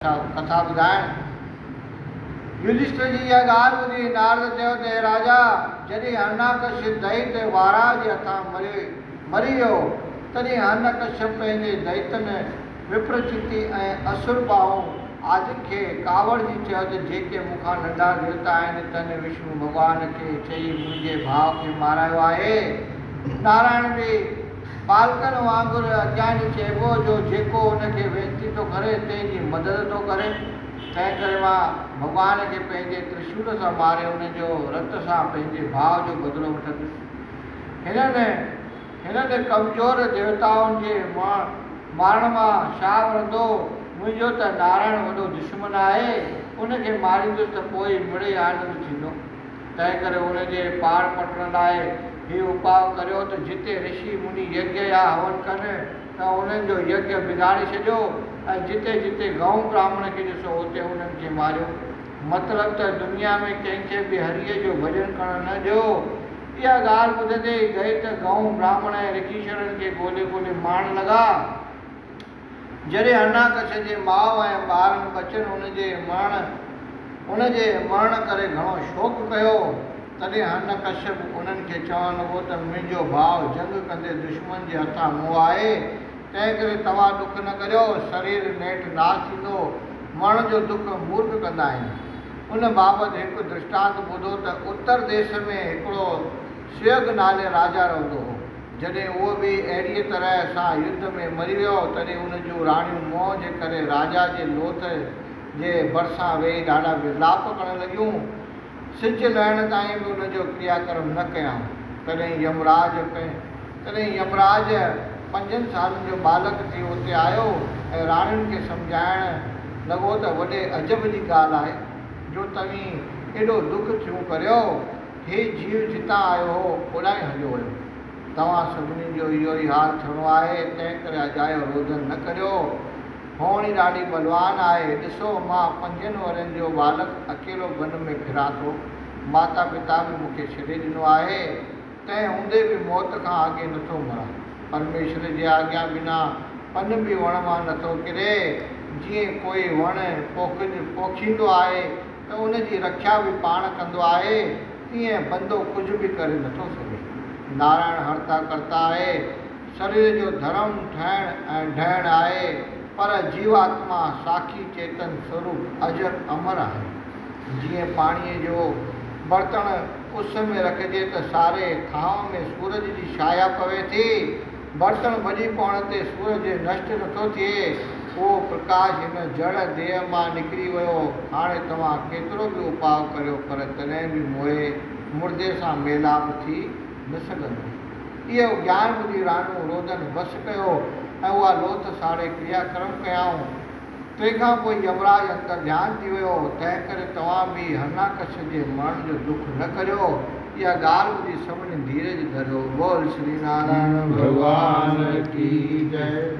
ڪٿا ٻڌائڻ. يوڌشٽر جي اها ڳالهه ٻڌي نارد چيو ته اي راجا! جڏهن هرڻاڪشپ دئيت ۽ واراه جي هٿان مري مري ويو، تڏهن هرڻڪشپ پنهنجي دئيتن وپرچيتي ۽ اسور باهو آدين کي ڪاوڙجي چيو ته جيڪي مون کان ننڍا ديوتا آهن، تن وشنو ڀڳوان کي چئي منهنجي ڀاء کي مارايو آهي. نارائڻ به. ٻالڪن وانگر اجياڻي چئبو جو جيڪو ان کي وينتي ٿو ڪري تنهن جي مدد ٿو ڪري، تنهن ڪري مان ڀڳوان کي پنهنجي ترشول سان ماري ان جو رت سان پنهنجي ڀاء جو بدلو وٺندس. هنن هنن ڪمزور ديوتائن جي مارڻ مان ڇا وڻندو، منهنجو ته نارائڻ وڏو دشمن آهي، ان کي ماريندس ته پوء ئي مڙئي آنند ٿيندو. تنهنڪري ان جي پاڙ پٽڻ لاء هي اپاء ڪريو ته جتي رشي مني يجيا يا هون ڪن ته انهن جو يج بگاڙي ڇڏيو ۽ جتي جتي گئون براهمڻ کي ڏسو اتي انهن کي ماريو مطلب ته دنيا ۾ ڪنهن کي به هريء جو ڀڄن ڪرڻ نه ڏيو. اها ڳالهه ٻڌندي ئي دئيت، گئون، براهمڻ ۽ رگيشرن کي ڳولي ڳولي مارڻ لڳا. جڏهن هرڻاڪش جي ماء ۽ ٻارن ٻچن ان جي مرڻ ان جي مرڻ ڪري گهڻو شوڪ ڪيو، تڏهن هرڻڪشپ انهن کي چوڻ لڳو ته منهنجو ڀاء جنگ ڪندي دشمن جي هٿان مئو آهي، تنهن ڪري توهان ڏک نه ڪريو، شرير نيٺ ناس ٿيندو، مرڻ جو دک مورک ڪندا آهن. ان بابت هڪ درشٽانت ٻڌو ته اتر ديس ۾ هڪڙو سيوگ نالي راجا رهندو هو. جڏهن هو به اهڙيء طرح سان يڌ ۾ مري ويو، تڏهن ان جون راڻيون موهه جي ڪري راجا جي لوٿ جي ڀرسان ويهي ڏاڍا ورلاپ ڪرڻ لڳيون. سج لهڻ تائين به ان جو ڪريا ڪرم نه ڪيائون. تڏهن يمراج تڏهن يمراج پنجن سالن جو ٻالڪ ٿي اتي آيو ۽ راڻين کي سمجهائڻ لڳو ته وڏي عجب جي ڳالهه آهي جو توهين ايڏو ڏک ٿيون ڪريو. هي جيو جتان آيو هو، اوڏانهن ئي هليو ويو. توهان سڀني جو اهو ئي حال ٿيڻو آهي، تنهنڪري اجايو روڌن نه ڪريو. هونئن ئي ڏاڍي بلوان آهي. ڏسو، مان پنجن ورهين جو ٻالڪ اڪيلو بن ۾ ڦران ٿو. ماتا پتا به مون کي ڇڏي ڏنو آهي. تنهن هوندي به موت کان اڳي نه ٿو مران. پرميشور جي آجيا بنا پن به وڻ مان نه ٿو ڪري. جيئن ڪوئي وڻ پوکجي پوکيندو آهي، ته ان جي رکيا به پاڻ ڪندو آهي، تيئن بندو ڪجهه به ڪري نٿو سگهي. نارائڻ هرتا ڪرتا آهي. سرير جو ڌرم ٺهڻ ۽ ڊهڻ آهي، پر جيوآتما ساکي چيتن سوروپ اجر امر آهي. جيئن پاڻيء جو برتڻ اس ۾ رکجي ته ساري ٿانء ۾ سورج جي شايا پوي ٿي، برتن ڀڄي پوڻ تي سورج نشٽ نٿو ٿئي، اهو پرڪاش هن جڙ ديهه مان نڪري ويو. هاڻي توهان ڪيترو به اپاء ڪريو پر تڏهن به موئي مردي سان ميلاپ ٿي نه سگهندو. اهو گيان ٻڌي راڻيون رودن وس ڪيو ۽ اها لوٿ ساڙي ڪريا ڪرم ڪيائون. تنهن کان پوء يمراج انترڌيان ٿي ويو، تنهن ڪري توهان به هرناڪش جي مرڻ جو ڏک نه ڪريو. اها ڳالهه ٻڌي سڀني ڌيرج ڌريو. بول شري نارائڻ ڀڳوان ڪي جئي.